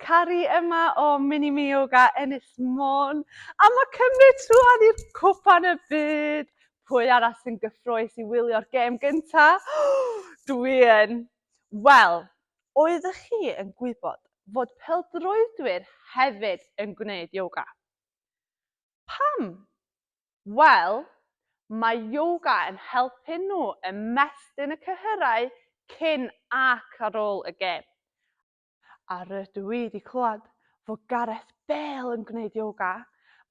Cari yma o Mini Mi Yoga Ennill Môn. A mae cymryd trwan i'r cwpan y byd. Pwy arall sy'n gyffroes i wylio'r gêm gynta? Dwi yn. Wel, oeddech chi yn gwybod fod peldroedwyr hefyd yn gwneud yoga? Pam? Wel, mae yoga yn helpu nhw ymestyn y cyhyrau cyn ac ar ôl y gêm. A rydw i 'di clywed fod Gareth Bale yn gwneud yoga,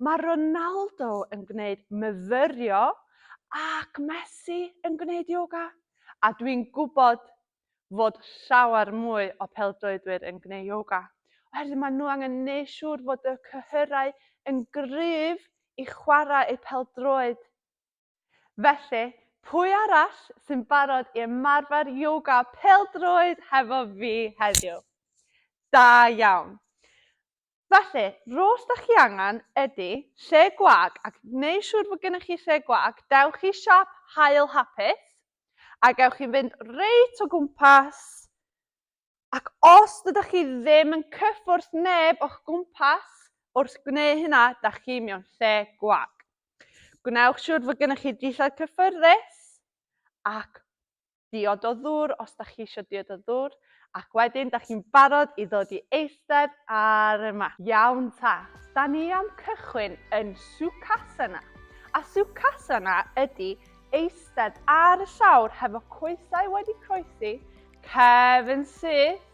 mae Ronaldo yn gwneud myfyrio ac Messi yn gwneud yoga, a dwi'n gwybod fod llawer mwy o pêl-droedwyr yn gwneud ioga, oherwydd maen nhw angen gwneud siŵr fod y cyhyrau yn gryf i chwarae eu pêl-droed. Felly, pwy arall sy'n barod i ymarfer ioga pêl-droed hefo fi heddiw? Da iawn! Felly, rho's da chi angen ydy lle gwag ac i gneud siŵr fod gennych chi lle gwag dewch i siop Hael Hapus a gewch chi fynd reit o gwmpas ac os dydych chi ddim yn cyffwrdd neb o'ch gwmpas wrth gwneud hynna da chi mewn lle gwag. Gwnewch siŵr fod gennych chi dillad cyffyrddus ac diod o ddŵr os da chi eisiau diod o ddŵr, ac wedyn da chi'n barod i ddod i eistedd ar y mat. Iawn ta, da ni am cychwyn yn Sukhasana. A Sukhasana ydy eistedd ar y llawr hefo coesau wedi croesi, cefn syth,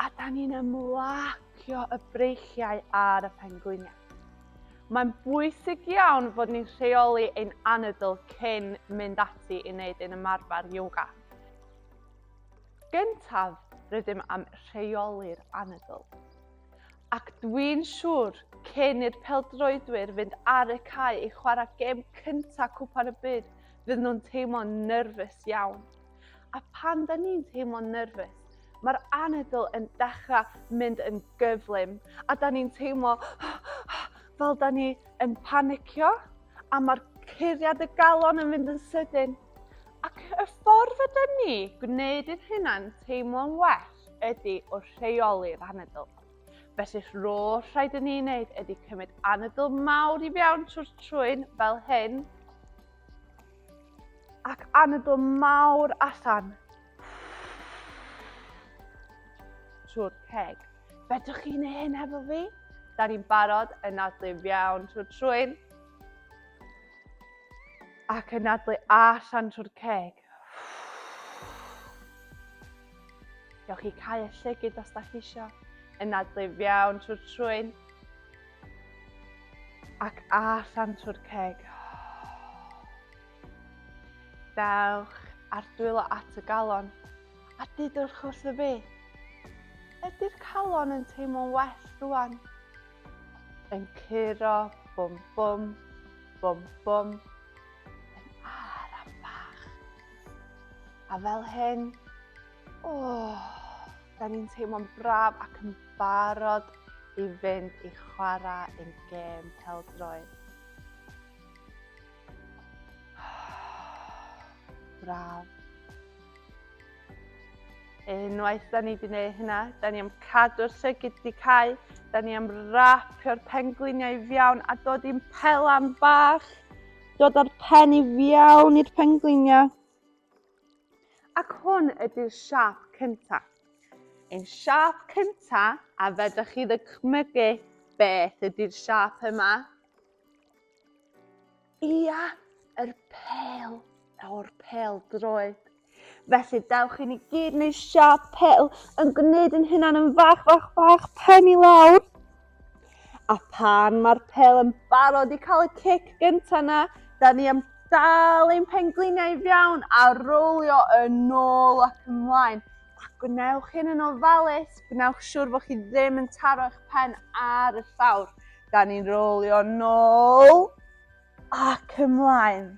a da ni'n ymlacio y breichiau ar y pengwiniau. Mae'n bwysig iawn fod ni'n rheoli ein anadl cyn mynd ati i wneud ein ymarfer yoga. Gyntaf, rydym am rheoli'r anadl. Ac dwi'n siŵr, cyn i'r peldroedwyr fynd ar y cae i chwarae gêm cyntaf Cwpan y Byd, fydd nhw'n teimlo'n nyrfys iawn. A pan da ni'n teimlo'n nerfus, mae'r anadl yn dechrau mynd yn gyflym a da ni'n teimlo fel da ni yn panicio a mae'r curiad y galon yn mynd yn sydyn. Ac y ffordd ydy ni gwneud i'n hynna'n teimlo'n well ydy o rheoli'r anadl. Felly rôl rhaid i ni wneud ydy cymryd anadl mawr i fewn trwy'r trwyn fel hyn. Ac anadl mawr allan. Trwy'r ceg. Fedrwch chi neu hyn hefo fi? Da ni'n barod yn nadlu fiawn trwy'r trwyn. Ac yn nadlu allan trwy'r ceg. Gewch chi cael y llygyd os da chi eisiau. Yn nadlu fiawn trwy'r trwyn. Ac allan trwy'r ceg. Dewch a'r dwylo at y galon a didwch wrth y fi. Ydy'r calon yn teimlo'n well rwan? Yn curo, bwm bwm, bwm bwm, yn ar a bach. A fel hyn, Oh, da ni'n teimlo'n braf ac yn barod i fynd i chwarae yn gêm peldroed. Braf. Unwaith da ni wedi gwneud hynna, da ni am cadw'r llygyd di cael, da ni am rapio'r pengliniau i fiawn a dod i'n pelan bach, dod â'r pen i fiawn i'r pengliniau. Ac hwn ydy'r siâp cyntaf. Ein siâp cyntaf, a fedrwch chi ddychmygu beth ydy'r siâp yma? Ia, yr pel, o'r pel droed. Felly dewch i ni gyd neu siâp pel yn gwneud yn hynna'n yn fach, fach, fach, pen i lawr. A phan mae'r pel yn barod i cael y cic gyntaf na, da ni am dal ein pengliniau fiawn a rowlio yn ôl ac ymlaen. A gwnewch hyn yn ofalus, gwnewch siwr bod chi ddim yn taro eich pen ar y llawr. Da ni'n rowlio yn ôl ac ymlaen.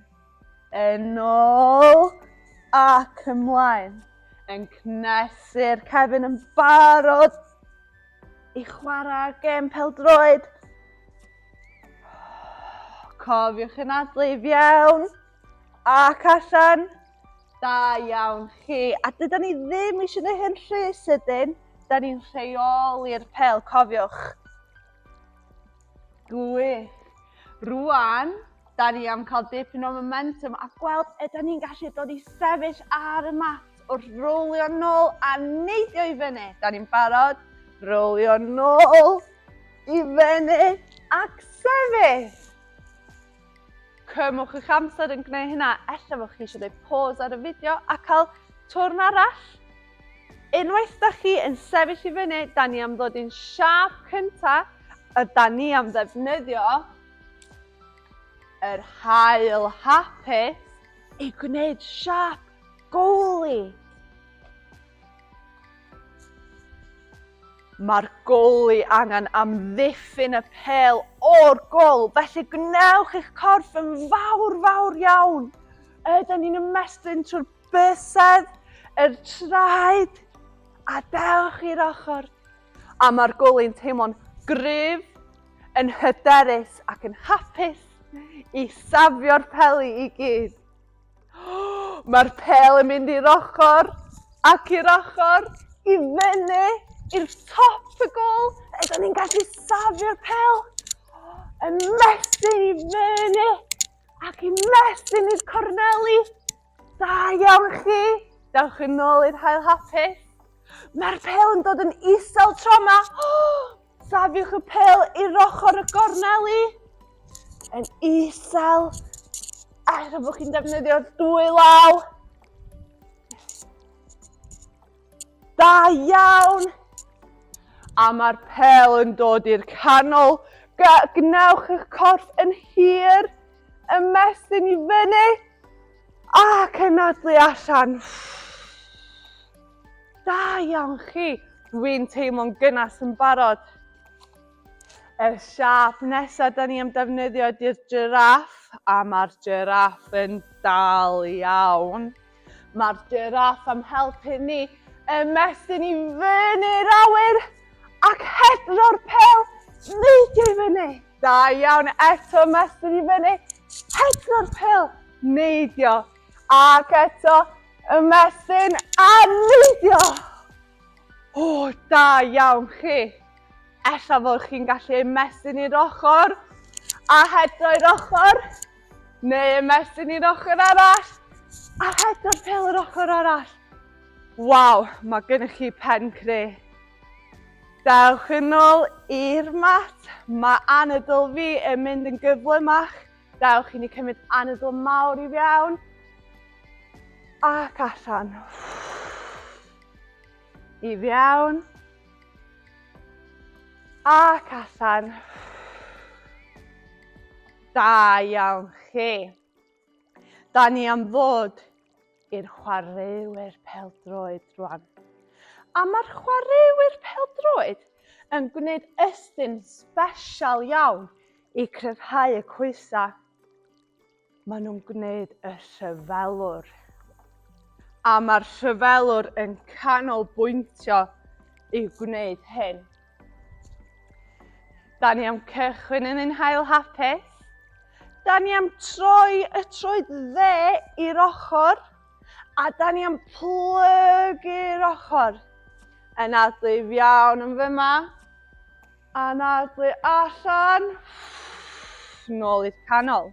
Yn ôl ac ymlaen. Yn cnesu'r cefn yn barod i chwarae gêm peldroed. Cofiwch yn adlu i fiewn ac allan. Da iawn chi. A dyda ni ddim eisiau gwneud hyn rhy sydyn. Da ni'n rheoli'r pel, cofiwch. Gwych! Rwan, da ni am cael dipyn o momentum a gweld ydy ni'n gallu dod i sefyll ar y mat wrth rowlio nôl a neidio i fyny. Da ni'n barod, rowlio nôl i fyny ac sefyll. Cymwch eich amser yn gwneud hynna, ella fod chi eisiau gwneud pause ar y fideo a cael twrn arall. Unwaith da chi yn sefyll i fyny, da ni am ddod i'n siap cynta, a da ni am ddefnyddio yr hael hapus i gwneud siap gowli. Mae'r goli angen amddiffyn y pel o'r gol, felly gwnewch eich corff yn fawr, fawr iawn. Ydyn ni'n ymestyn trwy'r bysedd, yr traed, a dewch i'r ochr. A mae'r goli'n teimlo'n gryf, yn hyderus ac yn hapus i safio'r peli i gyd. Mae'r pel yn mynd i'r ochr ac i'r ochr, i fyny, i'r top y gol. Ydyn ni'n gallu safio'r pel yn mestyn i fyny ac i mestyn i'r corneli. Da iawn chi. Dewch yn ôl i'r hael hapus. Mae'r pel yn dod yn isel tro yma. Safiwch y pel i'r ochr y gorneli yn isel a rhaid bod chi'n defnyddio'r dwy law. Da iawn! A mae'r pel yn dod i'r canol. Gwnewch eich corff yn hir, ymestyn i fyny ac cenadlu allan. Da iawn chi! Dwi'n teimlo'n gynnes yn barod. Y siap nesaf da ni am defnyddio ydy'r giraff, a mae'r giraff yn dal iawn. Mae'r giraff am helpu ni ymestyn i fyny'r awyr ac hedro'r pel neidio i fyny. Da iawn, eto ymestyn i fyny, hedro'r pel neidio Ac eto, ymestyn a neidio! O, da iawn chi! Ella fod chi'n gallu ymestyn i'r ochr a hedro i'r ochr, neu ymestyn i'r ochr arall a hedro fel yr ochr arall. Waw, mae gennych chi pen cre. Dewch yn ôl i'r mat, mae anadl fi yn mynd yn gyflymach. Dewch i ni cymryd anadl mawr i fiawn. Ac allan. I fiawn. Ac allan. Da iawn chi. Da ni am fod i'r chwaraewyr peldroed rwan. A mae'r chwaraewyr peldroed yn gwneud ystyn special iawn i cryfhau y coesau. Maen nhw'n gwneud y rhyfelwr. A mae'r rhyfelwr yn canolbwyntio i gwneud hyn. Da ni am cychwyn yn ein hael hapus. Da ni am troi y troed dde i'r ochr. A da ni am plygu'r ochr. Yn adlu iawn yn fyma. Yn adlu allan. Nôl i'r canol.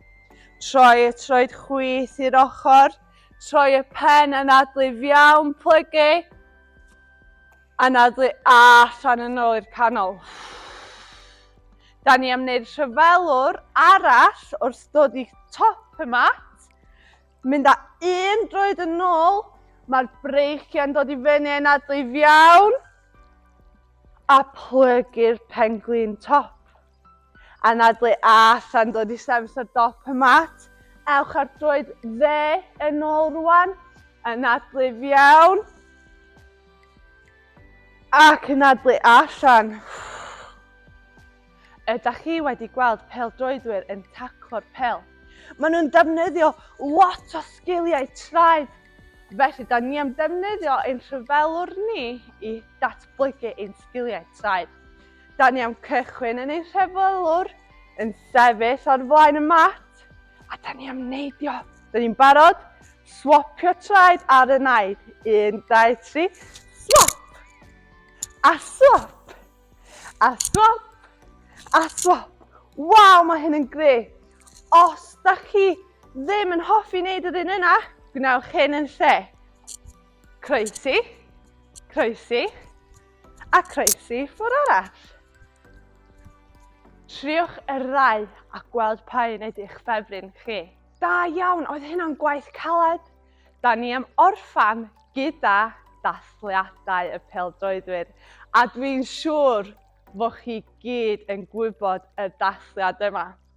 Troi y troed chwith i'r ochr. Troi y pen yn adlu iawn, plygu. Anadlu a allan yn ôl i'r canol. Da ni am wneud rhyfelwr arall wrth dod i top y mat. Mynd â un droed yn ôl. Mae'r breichiau'n dod i fyny yn adlu iawn. A plygu'r pen-glin top. Anadlu Âth a'n dod i sefyll ar dop y mat. Ewch ar droed dde yn ôl rwan. Anadlu fiawn. Ac anadlu allan. Ydych chi wedi gweld peldroedwyr yn taclo'r pel? Maen nhw'n defnyddio lot o sgiliau traed. Felly, da ni am defnyddio ein rhyfelwr ni i datblygu ein sgiliau traed. Da ni am cychwyn yn ei rhefylwr, yn sefyll o'r flaen y mat, a da ni am neidio. Da ni'n barod, swapio traed ar y naid. Un, dau, tri, swap! A swap! A swap! A swap! Waw, mae hyn yn gret! Os da chi ddim yn hoffi wneud yr un yna, gwnewch hyn yn lle. Croesi, croesi, A croesi ffwr arall. Triwch y ddau a gweld pa un ydych ffefryn chi. Da iawn, oedd hynna'n gwaith caled? Da ni am orffan gyda dathliadau y peldroedwyr a dwi'n siŵr fod chi gyd yn gwybod y dathliad yma.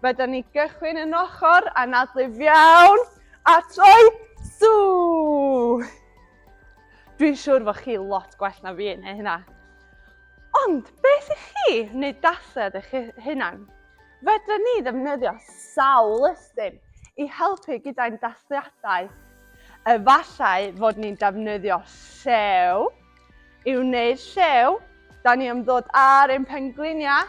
Fydden ni gychwyn yn ochr anadlif iawn a troi sŵ! Dwi'n siŵr fod chi lot gwell na fi yn hyn hynna. Ond beth i chi wneud dased eich hunan? Fydden ni ddefnyddio sawl ystum i helpu gyda'n dasliadau. Efallai fod ni'n defnyddio llew. I wneud llew, da ni am ddod ar ein pengliniau.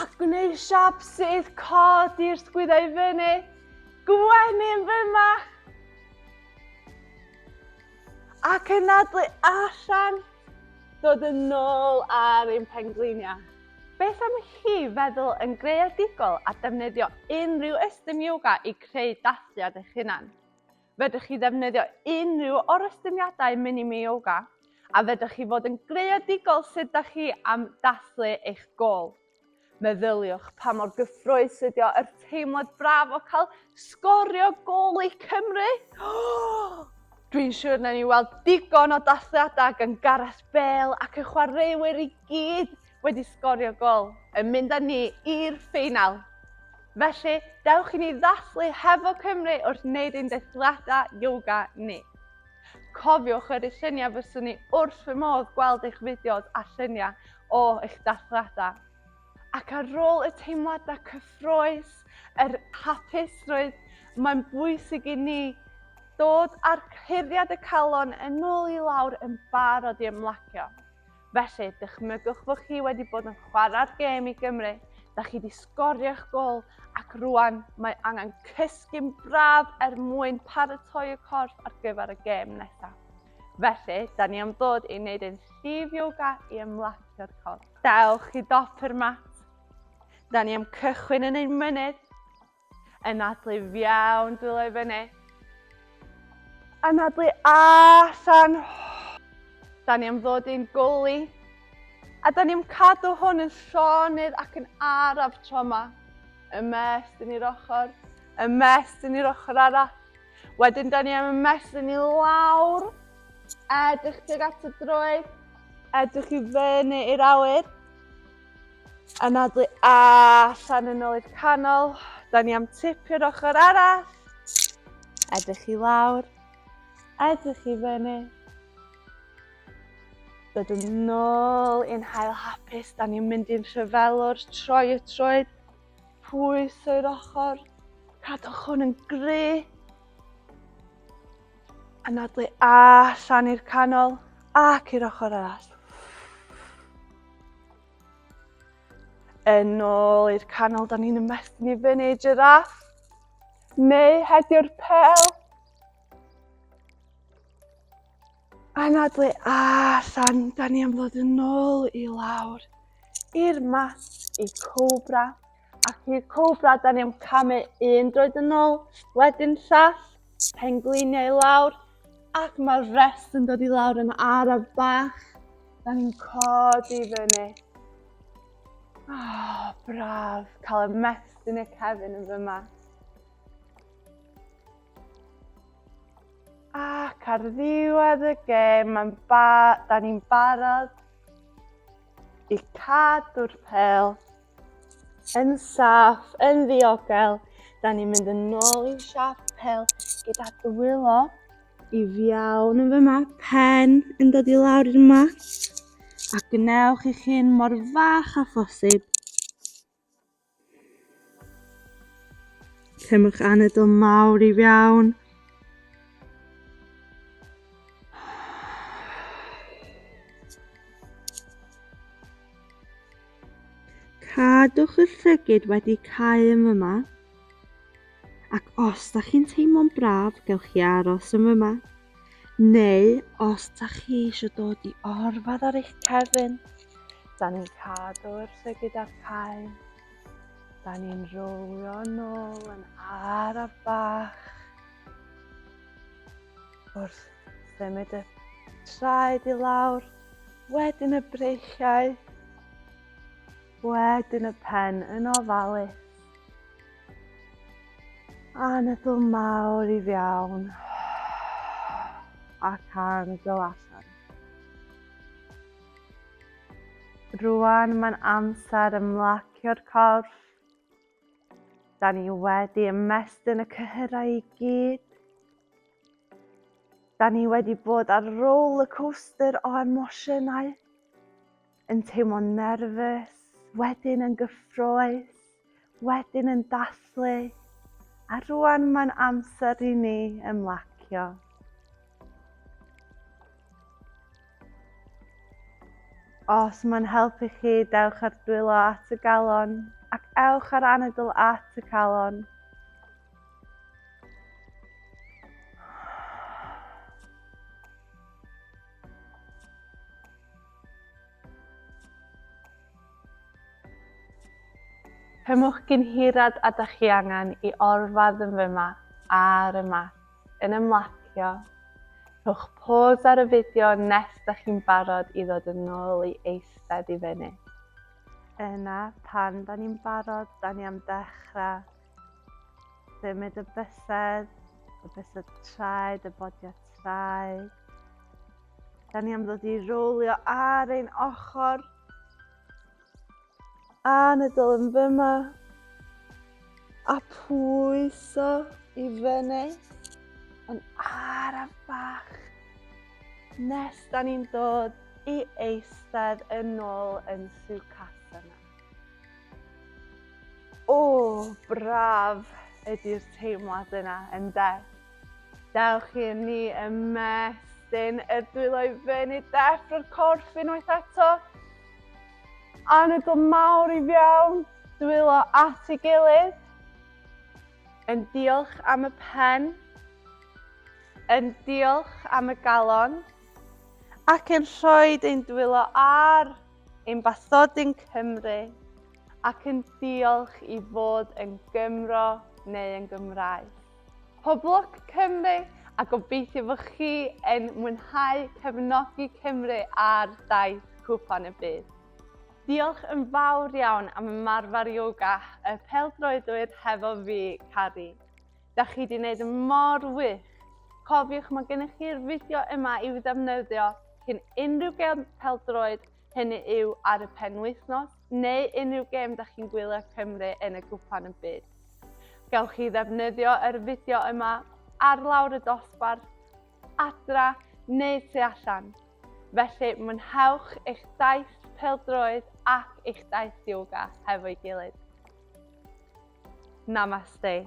A gwneud siap sydd cod i'r sgwydau i fyny. Gwenyn fy mach! Ac yn adlu allan, dod yn ôl ar ein pengliniau. Beth am chi feddwl yn greadigol a defnyddio unrhyw ystum yoga i creu dathliad eich hunan? Fedrwch chi ddefnyddio unrhyw orestyniadau mini-me-yoga a fedrwch chi fod yn greadigol sut da chi am dathlu eich gôl. Meddyliwch pa mor gyffrous ydio yr teimlad braf o cael sgorio gôl i Cymru! Oh! Dwi'n siŵr na ni weld digon o dathliadau gan Gareth Bale ac y chwaraewyr i gyd wedi sgorio gol yn mynd â ni i'r ffeinal. Felly, dewch i ni ddathlu hefo Cymru wrth wneud ein dethliadau yoga ni. Cofiwch yr lluniau fyswn ni wrth fy modd gweld eich fideos a lluniau o eich dathliadau. Ac ar ôl y teimladau cyffroes, yr hapusrwydd, mae'n bwysig i ni dod â'r cyhuddiad y calon yn ôl i lawr yn barod i ymlacio. Felly, dychmygwch fod chi wedi bod yn chwarae'r gêm i Gymru, da chi wedi sgorio'ch gol ac rwan mae angen cysgu'n braf er mwyn paratoi y corff ar gyfer y gêm nesaf. Felly, da ni am ddod i wneud ein llif yoga i ymlacio'r corff. Dewch i dop yr mat. Da ni am cychwyn yn ein mynydd. Anadlu fiawn dwylo i fyny. Anadlu allan. Da ni am ddod i'n gwly. A da ni am cadw hwn yn llonydd ac yn araf tro yma. Ymest yn i'r ochr. Ymest yn i'r ochr arall. Wedyn da ni am ymest yn i lawr. Edrych tuag at y droed. Edrych i fyny i'r awyr. Anadlu a allan yn ôl i'r canol. Da ni am tipio'r ochr arall. Edrych i lawr. Edrych i fyny. Dod yn ôl i'n hael hapus, da ni'n mynd i'n rhyfelwr, troi y troed, pwys o'r ochr, cadwch hwn yn gry. Anadlu allan i'r canol ac i'r ochr arall. Yn ôl i'r canol, da ni'n ymestyn i fyny giraff. Neu hedio'r pel. Anadlu allan, da ni am ddod yn ôl i lawr i'r mat i cobra. Ac i'r cobra, da ni am camu un droed yn ôl, wedyn llall, pengliniau i lawr, ac mae'r rest yn dod i lawr yn araf bach. Da ni'n codi i fyny. Oh, braf, cael y mest yn y cefn yn fyma. Ac ar ddiwedd y gêm, mae'n ba, da ni'n barod i cadw'r pel Yn saff, yn ddiogel, da ni'n mynd yn ôl i'r siapel gyda dwylo i fiawn yn fyma, pen yn dod i lawr i'r mat, a gwnewch i chi'n mor fach a phosib. Cymwch anadl mawr i fiawn. Cadwch y llygid wedi cau yn fyma. Ac os da chi'n teimlo'n braf, gewch chi aros yn fyma. Neu, os da chi eisiau dod i orfad ar eich cefn, da ni'n cadw'r llygid ar cau. Da ni'n rowlio nôl yn araf bach wrth symud y traed i lawr Wedyn y breichiau. Wedyn y pen yn ofalus. Anadl mawr i fiawn. Ac anadl allan. Rwan mae'n amser ymlacio'r corff. Da ni wedi ymestyn y cyhyrau i gyd. Da ni wedi bod ar roller coaster o emosiynau, yn teimlo'n nerfus, wedyn yn gyffroes, wedyn yn dathlu, a rwan mae'n amser i ni ymlacio. Os mae'n helpu chi, dewch ar dwylo at y galon ac ewch ar anadl at y calon. Cymwch gynhirad a da chi angen i orfad yn fy mat ar y mat, yn ymlacio. Rhowch pôs ar y fideo nes da chi'n barod i ddod yn ôl i eistedd i fyny. Yna, pan da ni'n barod, da ni am dechrau. Symud y bysedd, y bysedd traed, y bodio traed. Da ni am ddod i rowlio ar ein ochr. A nydol yn fyma. A pwyso i fyny. Yn araf bach. Nes da ni'n dod i eistedd yn ôl yn Sukhasana. O, braf ydy'r teimlad yna, ynde? Dewch i ni ymestyn y dwylo i fyny deffro'r o'r corff unwaith eto. Anadl mawr i fiawn, dwylo at ei gilydd. Yn diolch am y pen. Yn diolch am y galon. Ac yn rhoi ein dwylo ar Ein bathodyn Cymru ac yn diolch i fod yn Gymro neu yn Gymraeg. Poblwc Cymru a gobeithio fod chi yn mwynhau cefnogi Cymru ar daith Cwpan y Byd. Diolch yn fawr iawn am ymarfer yoga y pêl-droedwyr hefo fi, Cari. Da chi di wneud yn mor wych. Cofiwch mae gennych chi'r fideo yma i'w ddefnyddio cyn unrhyw gem peldroed, hynny yw ar y penwythnos, neu unrhyw gem da chi'n gwylio Cymru yn y gwpan yn byd. Gawch chi ddefnyddio yr fideo yma ar lawr y dosbarth, adra neu tu allan. Felly mwynhewch eich daith peldroed ac eich daith yoga hefo'i gilydd. Namaste.